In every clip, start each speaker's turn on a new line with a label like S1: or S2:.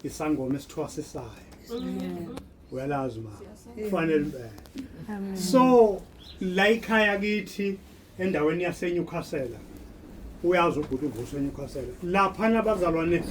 S1: isangoma esithwasisayo uyalazi ma kufanele impela so la ikhaya kithi endaweni yaseNewcastle uyazi ubhuti uvuso eNewcastle lapha nabazalwane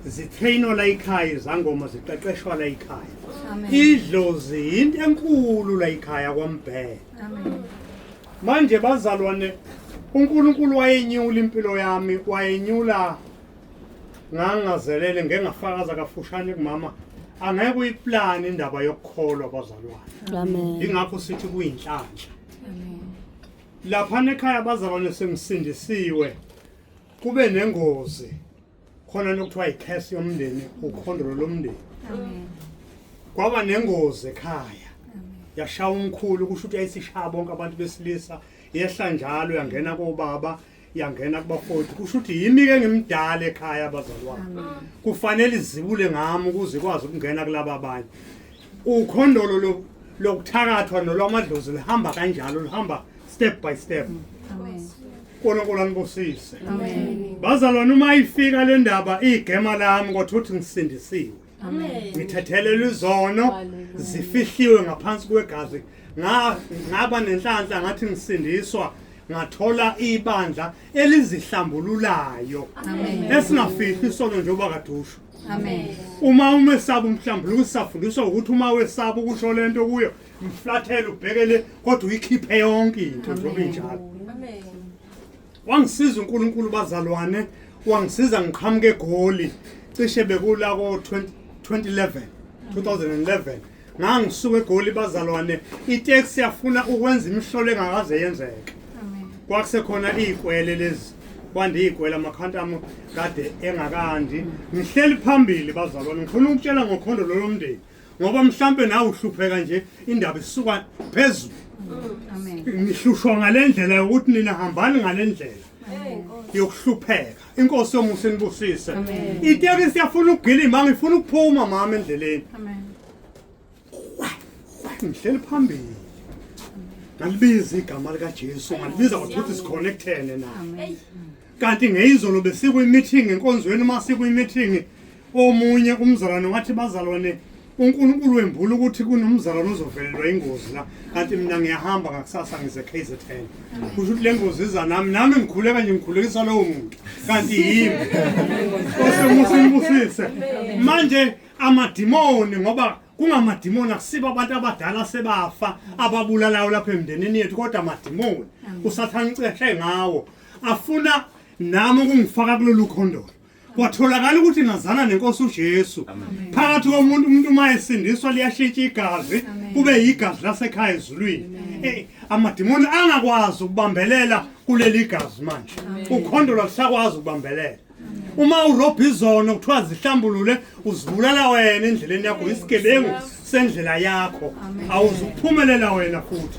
S1: zitrainwa la ikhaya izangoma ziqeqeshwa la ikhaya idlozi yinto enkulu la ikhaya kwambhele manje bazalwane uNkulunkulu wayenyula impilo yami wayenyula ngangazelele ngengafakaza kafushane kumama angeke uyiplane indaba yokukholwa abazalwane yingakho
S2: sithi
S1: kuyinhlanhla laphana ekhaya abazalwane sengisindisiwe kube nengozi khona nokuthiwa yikhesi yomndeni ukhondolo lomndeni kwaba nengozi ekhaya yashaya umkhulu kusho ukuthi yayisishaya bonke abantu besilisa yehla njalo yangena kobaba yangena kubafowethu kusho ukuthi yimi ke ngimdala ekhaya abazalwane kufanele izibule ngami ukuze ikwazi ukungena kulaba abanye ukhondolo lo lokuthakathwa nolwamadlozi lihamba kanjalo lihamba step by step uNkulunkulu anibusise bazalwane uma ifika le ndaba igema lami kodwa uthi ngisindisiwe ngithethelelwa izono zifihliwe ngaphansi kwegazi ngaba nenhlanhla ngathi ngisindiswa ngathola ibandla elizihlambululayo esingafihli isono njengoba kadusho uma umesaba umhlambuluko sisafundiswa ukuthi uma wesaba ukusho le nto kuyo mflathele ubhekele kodwa uyikhiphe yonke into njengoba injalo Wangisiza uNkulunkulu bazalwane, wangisiza ngiqhamuke eGoli cishe bekula ko 2011 2011 ngangisuka eGoli bazalwane itaxi yafuna ukwenza imihlolo engakaze yenzeke kwakusekhona izikwele lezi kwande izikwele amakhanta ami kade engakandi ngihleli phambili bazalwane ngifuna ukutshela ngokhondo lolomndeni ngoba mhlampe nawe uhlupheka nje indaba isuka phezulu ngihlushwa ngale ndlela yokuthi nina hambani ngale ndlela yokuhlupheka inkosi yomusa inibusise itekisi yafuna ukugilima ngifuna ukuphuma mama endleleni ngihleli phambili ngalibiza igama likajesu ngalibiza kwathuthi sikhonekthene naye kanti ngeyizolo besikwimithingi enkonzweni uma sikwimithingi omunye umzalwane wathi bazalwane unkulunkulu wembula ukuthi kunomzalwane ozovelelwa ingozi la kanti mina ngiyahamba ngakusasa ngize k z n kusho ukuthi le ngozi iza nami nami ngikhuleka nje ngikhulekisa lowo muntu kanti yimi osemusimbusise manje amadimoni ngoba kungamadimoni akusibo abantu abadala sebafa ababulalayo lapha emndenini yethu kodwa amadimoni usathane uceshe ngawo afuna nami ukungifaka kulolu khondolo kwatholakala ukuthi ngazana nenkosi uJesu phakathi komuntu umuntu uma esindiswa liyashintsha igazi kube yigazi lasekhaya ezulwini eh, amadimoni angakwazi ukubambelela kuleli gazi manje ukhondolo lusakwazi ukubambelela uma urobha izono kuthiwa zihlambulule uzibulala wena endleleni yakho isigebengu sendlela yakho awuzukuphumelela wena futhi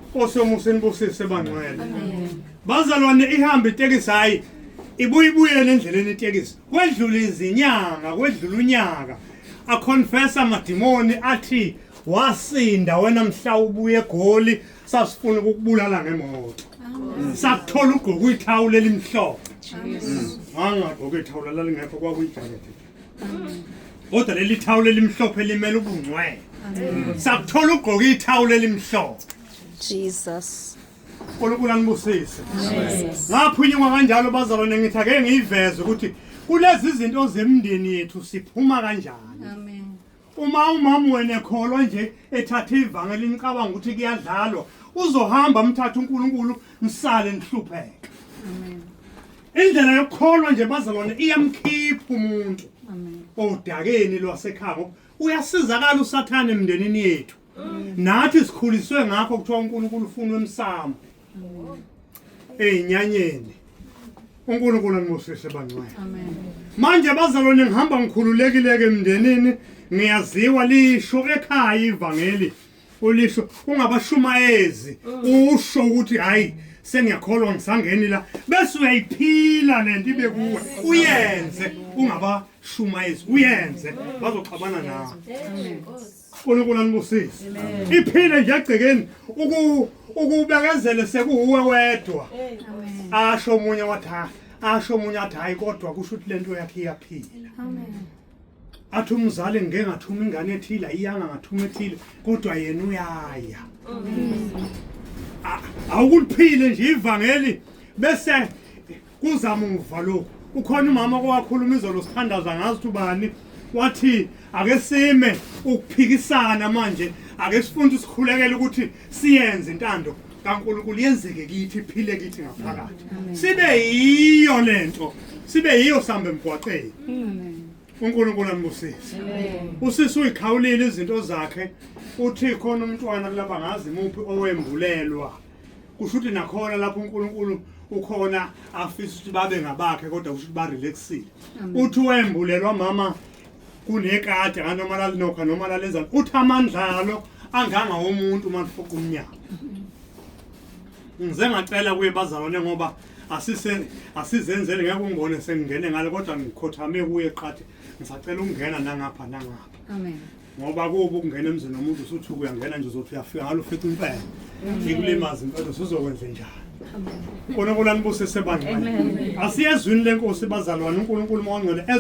S1: nkosi yomusa inibusise bangcwele bazalwane ihambe itekisi hhayi ibuye ibuyele endleleni itekisi kwedlula izinyanga kwedlula unyaka aconfesa amadimoni athi wasinda wena mhla ubuye egoli sasifuna ukukubulala ngemoto sathola ugqoka uyithawula elimhlophe wangagqoka ithawula lalingekho kwakuyijakete kodwa leli thawula elimhlophe limele ubungcwele sakuthola ugqoka ithawula elimhlophe jesus
S2: unkulunkulu
S1: anibusise ngaphunyuka kanjalo bazalwane ngithi ake ngiyiveze ukuthi kulezi zinto zemndeni yethu siphuma kanjani uma umama wena ekholwa nje ethathe ivangeli nicabanga ukuthi kuyadlalwa uzohamba mthatha uNkulunkulu nisale nihlupheke amen indlela yokukholwa nje bazalwane iyamkhipha umuntu amen odakeni lwasekhabo uyasizakala usathane emndenini yethu nathi sikhuliswe ngakho kuthiwa uNkulunkulu ufuna emsamo ezinyanyeni uNkulunkulu anibusise bangcwele manje bazalwane ngihamba ngikhululekile-ke emndenini ngiyaziwa lisho ekhaya ivangeli ulisho ungabashumayezi usho ukuthi hhayi sengiyakholwa ngisangeni la bese uyayiphila le nto ibe kuwe uyenze ungabashumayezi uyenze bazoxabana nawe uNkulunkulu anibusise iphile nje egcekeni ukubekezele sekuwuwe wedwa asho omunye wathi hayi asho omunye athi hayi kodwa kusho ukuthi lento yakhe iyaphila athi umzali ngike ngathuma ingane ethile iyanga ngathuma ethile kodwa yena uyaya awukuliphile nje ivangeli bese kuza muva lokhu kukhona umama owakhuluma izolo sithandaza ngazi ukuthi ubani wathi ake sime ukuphikisana manje ake sifunde sikhulekele ukuthi siyenze intando kaNkulunkulu yenzeke kithi iphile kithi ngaphakathi sibe yiyo lento sibe yiyo sambe emgwaqeni uNkulunkulu anibusise usisi uyikhawulile izinto zakhe uthi khona umntwana kulaba ngazi muphi owembulelwa kusho ukuthi nakhona lapho uNkulunkulu ukhona afisa ukuthi babe ngabakhe kodwa kusho ukuthi barelaxile uthi wembulelwa mama kunekade anoma lalinokha noma lalenzani uthi amandlalo anganga womuntu uma lifoka umnyaka ngize ngacela kuye bazalwane ngoba asise asizenzele ngeke ungibone sengingene ngale kodwa ngikhothame kuye qathe ngisacela ukungena nangapha nangapha amen
S3: ngoba kuba
S1: ukungena emzini womuntu usuthi uyangena nje uzothi uyafika ngalo ufika impela ikulimaza impela usuzokwenze njani uNkulunkulu anibusise bandla asiyezwini lenkosi bazalwane uNkulunkulu mawangcwele